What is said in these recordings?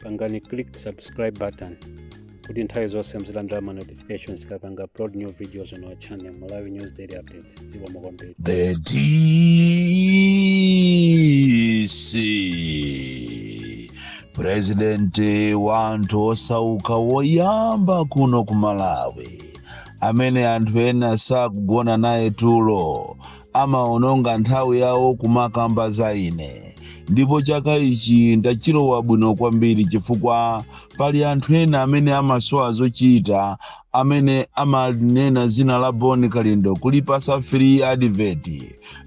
pangani click subscribe button kuti nthawi zonse muzilandira ma notifications tikapanga upload new videos on our channel malawi news daily updates zikomo kwambiri The DC President wanthu osauka woyamba kuno ku Malawi amene anthu ena sakugona naye tulo Amaononga nthawi yawo kumakamba za ine. Ndipo chaka ichi ndachilowa bwino kwambiri chifukwa pali anthu ena amene amasowa zochita amene amanena dzina la Bon Kalindo kulipatsa free advert.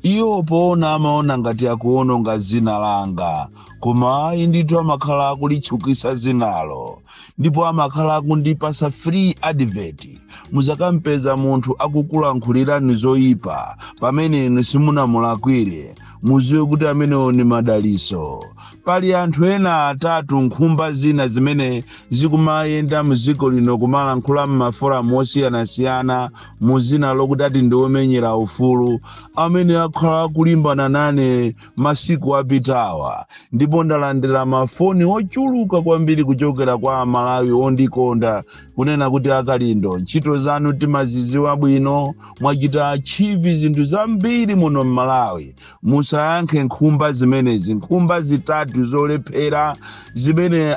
Iwo poona amaona ngati akuononga dzina langa. Koma ayi ndithu amakhala akulitchukitsa dzinalo. ndipo amakhala akundipatsa free advert mudzakampeza munthu akukulankhulirani zoyipa pamene inu simunamulakwire mudziwe kuti amenewo ni madaliso pali anthu ena atatu nkhumba zina zimene zikumayenda mdziko lino kumalankhula m'maforamu osiyanasiyana mu dzina lokuti ati ndiomenyera ufulu amene akhala akulimbana nane masiku apitawa ndipo ndalandira mafoni ochuluka kwambiri kuchokera kwa amalawi ondikonda kunena kuti akalindo ntchito zanu timazidziwa bwino mwachita achieve zinthu zambiri muno m'malawi musayankhe nkhumba zimenezi nkhumba zitatu zolephera zimene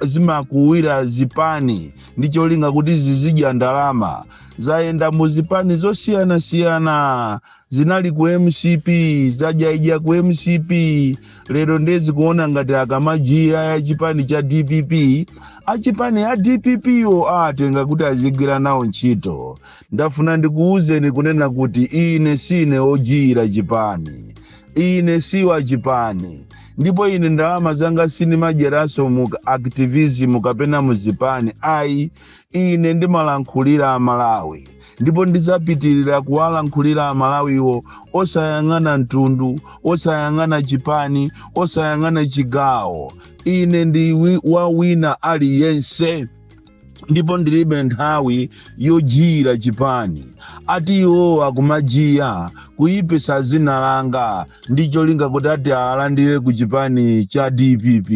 zimakuwira zipani ndi cholinga kuti zizidya ndalama zayenda mu zipani zosiyanasiyana zinali ku mcp zadyaidya ku mcp lero nde zikuona ngati akamajiyira chipani cha dpp achipani a dpp wo awatenga kuti azigwira nawo ntchito ndafuna ndikuwuzeni kunena kuti ine sine ojiyira chipani ine si wa chipani ndipo ine ndalama zanga sinimadyeranso mu activism kapena muzipani ayi ine ndimalankhulira amalawi ndipo ndidzapitirira kuwalankhulira amalawiwo osayang'ana mtundu osayang'ana chipani osayang'ana chigawo ine ndi wa wina aliyense ndipo ndilibe nthawi yojiyira chipani ati iwo akumajiya kuyipisa dzina langa ndi cholinga kuti ati awalandire ku chipani cha dpp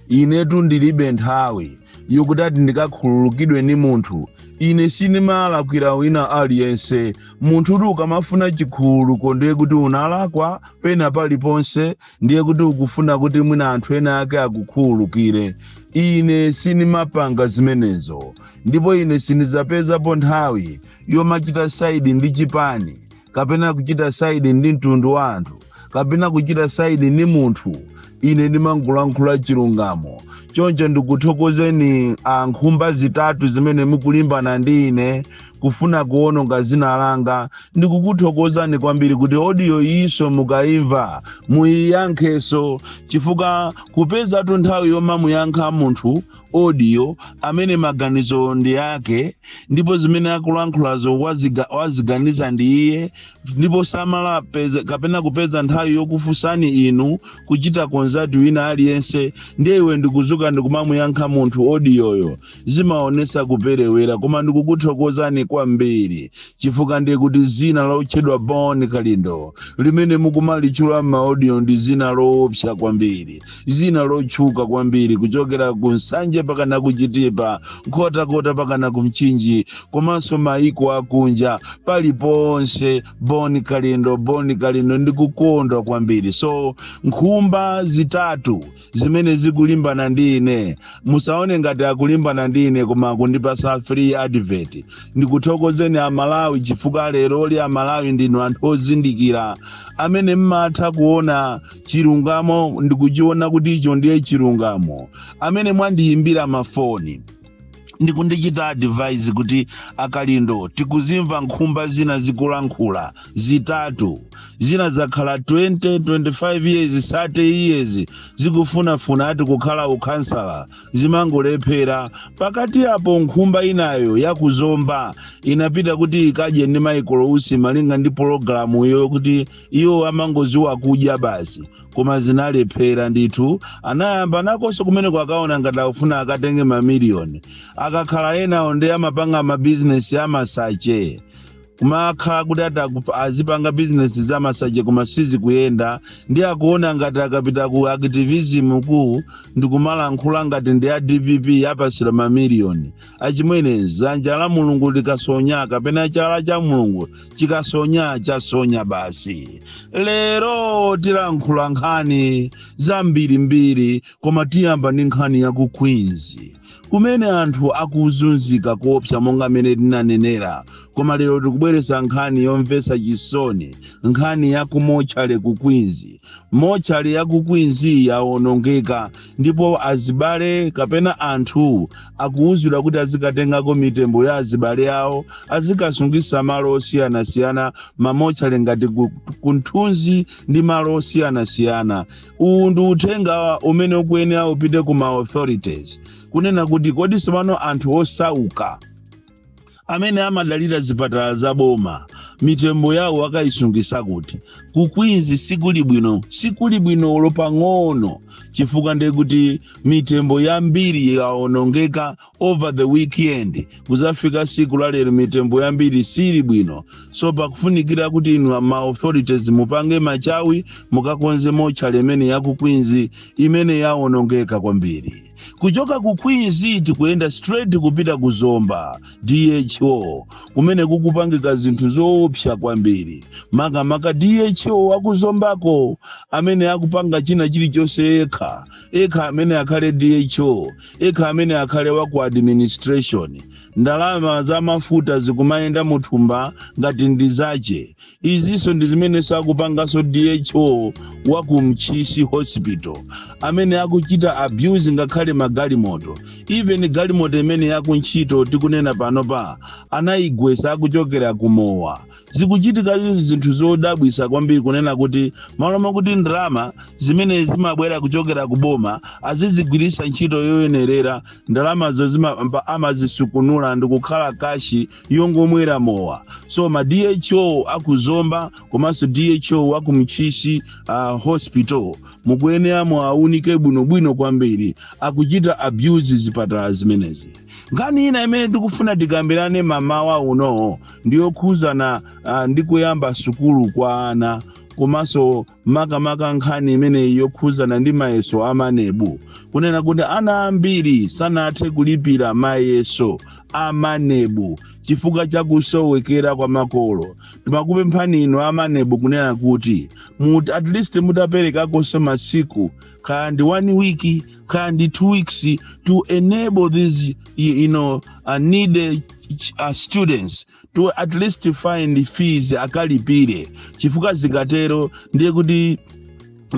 inetu ndilibe nthawi yokuti ati ndikakhululukidwe ndi munthu ine sindimalakwira wina aliyense munthu kuti ukamafuna chikhululuko ndiye kuti unalakwa pena paliponse ndiye kuti ukufuna kuti mwina anthu ena ake akukhululukire ine sindimapanga zimenezo ndipo ine sindidzapezapo nthawi yomachita side ndi chipani kapena kuchita saidi ndi mtundu wa anthu kapena kuchita saidi ndi munthu ine ndimangolankhula chilungamo choncho ndikuthokozeni a nkhumba zitatu zimene mukulimbana ndi ine kufuna kuononga zina langa ndikukuthokozani kwambiri kuti odiyo iyiso mukayimva muyiyankheso chifukwa kupezatu nthawi yomamuyankha munthu audio amene maganizo ndi ake ndipo zimene akulankhulazo waziganiza ndi iye ndipo samala kapena kupeza nthawi yokufunsani inu kuchita konzati wina aliyense ndiye iwe ndikuzuka ndikumamuyankha munthu odiyoyo zimaonesa kuperewera koma ndikukuthokozani kwambiri chifukwa ndiye kuti zina lotchedwa bon kalindo limene mukumalitchula m'maodiyo ndi zina loopsa kwambiri zina lotchuka kwambiri kuchokera ku nsanje pakana ku chitipa nkhotakota pakana ku mchinji komanso maiko akunja paliponse boni kalindo boni kalindo ndikukondwa kwambiri so nkhumba zitatu zimene zikulimbana ndi ine musaone ngati akulimbana ndi ine koma akundipasa free advert ndikuthokozeni amalawi chifukwa leroli amalawi ndinu anthu ozindikira amene mmatha kuona chilungamo ndikuchiona kuti icho ndiye chilungamo amene mwandiyimbira mafoni ndikundichita advise kuti akalindo tikuzimva nkhumba zina zikulankhula zitatu zina zakhala 20 25 years 30 years zikufunafuna ati kukhala ukhansala zimangolephera pakati apo nkhumba inayo yakuzomba inapita kuti ikadye ndi michael usi malinga ndi pologalamu iyo kuti iwo amangoziwa kudya basi koma zinalephera ndithu anayamba nakonso kumeneko akuona ngati akufuna akatenge mamiliyoni akakhala enawo ndi amapanga mabizinesi amasache kumakhala kuti azipanga bizinesi za masache koma sizikuyenda ndi akuona ngati akapita ku activism ku ndikumalankhula ngati ndi a dpp apasira mamiliyoni achimwene dzanja la mulungu likasonya kapena chala cha mulungu chikasonya chasonya basi lero tilankhula nkhani zambirimbiri koma tiyamba ndi nkhani ya ku queens kumene anthu akuzunzika koopsa monga mmene tinanenera koma lero tikubweretsa nkhani yomvetsa chisoni nkhani ya ku mochale ku queens mochale ya ku queens yawonongeka ndipo azibale kapena anthu akuwuzidwa kuti azikatengako mitembo ya azibale awo azikasungisa malo osiyanasiyana mamochale ngati ku mthunzi ndi malo osiyanasiyana uwu ndi uthenga umene ukuyenera upite ku ma authorities kunena kuti kodi sopano anthu osauka amene amadalira zipatala za boma mitembo yawo akayisungisa kuti ku queens sikuli bwino sikuli bwino olo pang'ono chifukwa ndiye kuti mitembo yambiri yawonongeka over the weekend kuzafika siku lalero mitembo yambiri sili bwino so pakufunikira kuti inu ma authorities mupange machawi mukakonze mortuary imene ya ku queens imene yawonongeka kwambiri kuchoka ku queens tikuyenda straight kupita ku zomba dho kumene kukupangika zinthu zoopsa kwambiri makamaka dho wakuzombako amene akupanga china chilichonse yekha yekha amene akhale dho yekha amene akhale wa ku administration ndalama za mafuta zikumayenda muthumba ngati ndi zache izinso ndi zimene akupanganso dho wa ku ntchisi hospital amene akuchita abuse ngakhale magalimoto even galimoto imene yaku ntchito tikunena panopa anayigwesa akuchokera kumowa zikuchitika izi zinthu zodabwisa kwambiri kunena kuti malo makuti ndalama zimene zimabwera kuchokera ku boma azizigwiritsa ntchito yoyenerera ndalamazo zimapa- amazisukunula ndikukhala kashi yongomwera mowa so ma dho akuzomba komanso dho aku ntchisi uh, hospital mukuyenera muaunike bwinobwino kwambiri akuchita abuse zipatala zimenezi nkhani ina imene tikufuna tikambirane mamawa uno ndiyokhudzana uh, ndi kuyamba sukulu kwa ana komanso makamaka nkhani imeneyi yokhudzana ndi mayeso a maneb kunena kuti ana ambiri sanathe kulipira mayeso a maneb chifukwa cha kusowekera kwa makolo timakupemphani inu a maneb kunena kuti mut, at least mutaperekakonso masiku kaya ndi one week kaya ndi two weeks to enable these you know, uh, needy uh, students to at least find fees akalipire chifukwa zikatero ndiye kuti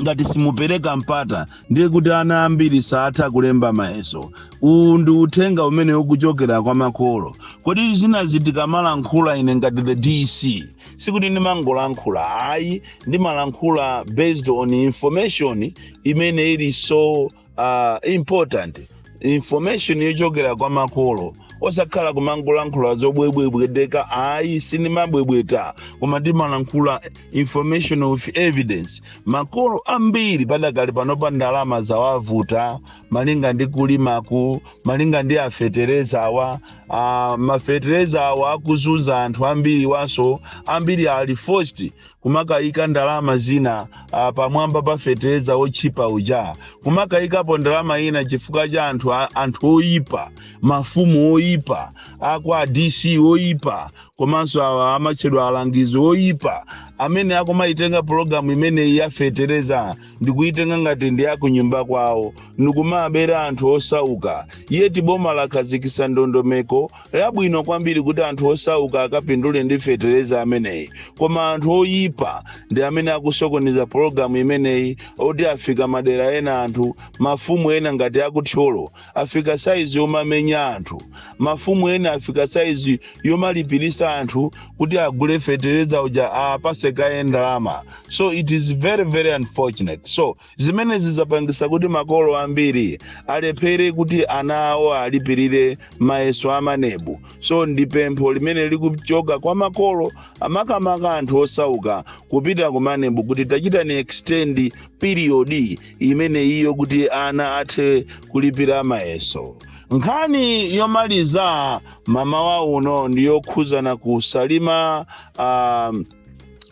ngati simupereka mpata ndiye kuti ana ambiri saatha kulemba mayeso uwu ndi uthenga umene ukuchokera kwa makolo kodi zinazi tikamalankhula ine ngati the dc sikuti ndimangolankhula ayi ndimalankhula based on information imene ili so uh, important information yochokera kwa makolo osakhala kumangolankhula zobwebwetekabwebweteka ayi sindimabwebweta koma ndimalankhula information of evidence makolo ambiri padakali panopa ndalama zawavuta malinga ndi kulimaku malinga ndi afetereza awa uh, mafetereza awa akuzunza anthu ambiri so ambiri ali forced kumakayika ndalama zina ah, pamwamba pa fetereza otchipa uja kumakayikapo ndalama ina chifukwa cha anthu a- anthu oyipa mafumu oyipa akwa dc oyipa komanso awa amatchedwa alangizi oyipa amene akumayitenga pologalamu imeneyi ya fetereza ndikuyitenga ngati ndi yakunyumba kwawo ndikumabera anthu osauka yeti boma lakhazikisa ndondomeko Yabwino kwambiri kuti anthu osauka akapindule ndi fetereza ameneyi koma anthu oyipa ndi amene akusokoneza pologalamu imeneyi oti afika madera ena anthu mafumu ena ngati akuthyolo afika saizi yomamenya anthu mafumu ena afika saizi yomalipirisa anthu kuti agule fetereza uja awapase kaye ndalama so it is very very unfortunate so Zimene zizapangisa kuti makolo ambiri alephere kuti ana awo alipirire mayeso a maneb. So ndi pempho limene likuchoka kwa makolo makamaka anthu osauka kupita ku maneb kuti tachitani extend period imene iyo kuti ana athe kulipira mayeso. Nkhani yomaliza mamawa uno ndi yokhuzana ku Salima um,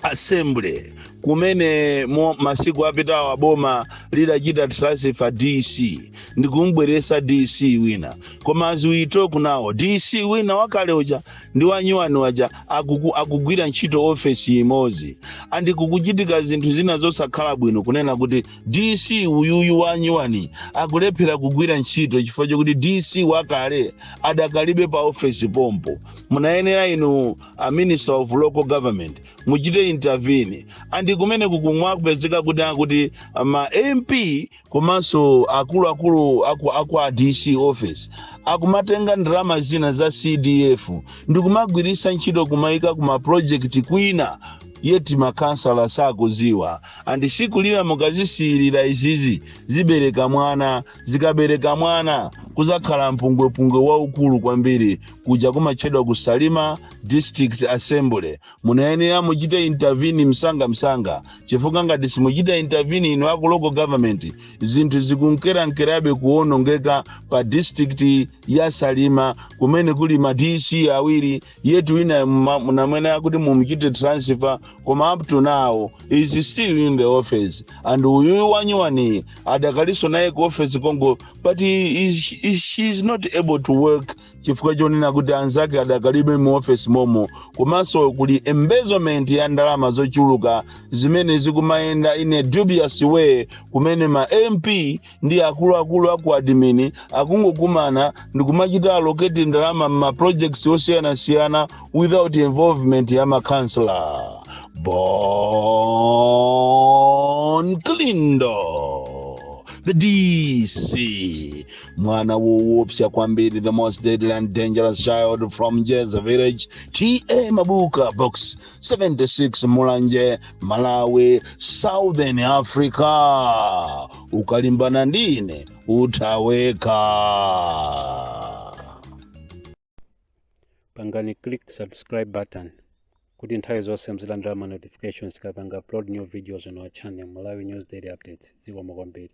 assembly kumene mu masiku apitawa boma lidachita transfer dc ndikumbweresa dc wina koma as we talk now dc wina wakale uja ndi wanyuwani uja akuku, akugwira ntchito ofesi imodzi andi kukuchitika zinthu zina zosakhala bwino kunena kuti dc uyuyu wanyuwani akulephera kugwira ntchito chifukwa chokuti dc wakale adakalibe pa ofesi pompo munayenera inu a minister of local government muchite intervene and kumene kukumapezeka kuti akuti ma mp komanso akuluakulu aku, aku a dc office akumatenga ndalama zina za cdf ndikumagwiritsa ntchito kumayika ku maprojekti kwina yeti makansala sakuziwa andi siku lina mukazisiirira izizi zibereka mwana zikabereka mwana kuzakhala mpungwepungwe waukulu kwambiri kuja kumatchedwa ku salima district assembly munayenera muchite intervene msanga msanga chifukwa ngati simuchita intervene inu aku local government zinthu zikunkerankerabe kuwonongeka pa district ya salima kumene kuli ma dc awiri yet wina munamunena kuti mumuchite transfer koma up to now is still in the office and uyuyu wanyuwaniyu adakalinso naye ku office konko but he is, he, she is not able to work chifukwa chonena kuti anzake adakalibe mu office momo komanso kuli embezzlement ya ndalama zochuluka zimene zikumayenda in a dubious way kumene ma mp ndi akuluakulu a ku admin akungokumana ndikumachita allocate ndalama m'maprojects osiyanasiyana without involvement ya ma councillor bon Kalindo the dc mwana woopsa kwambiri the most deadly and dangerous child from Njeza village TA mabuka box 76 mulanje malawi southern africa ukalimbana ndine uthaweka pangani click subscribe button kuti nthawi zonse muzilandira ma notifications tikapanga upload new videos on our channel malawi news daily updates zikomo kwambiri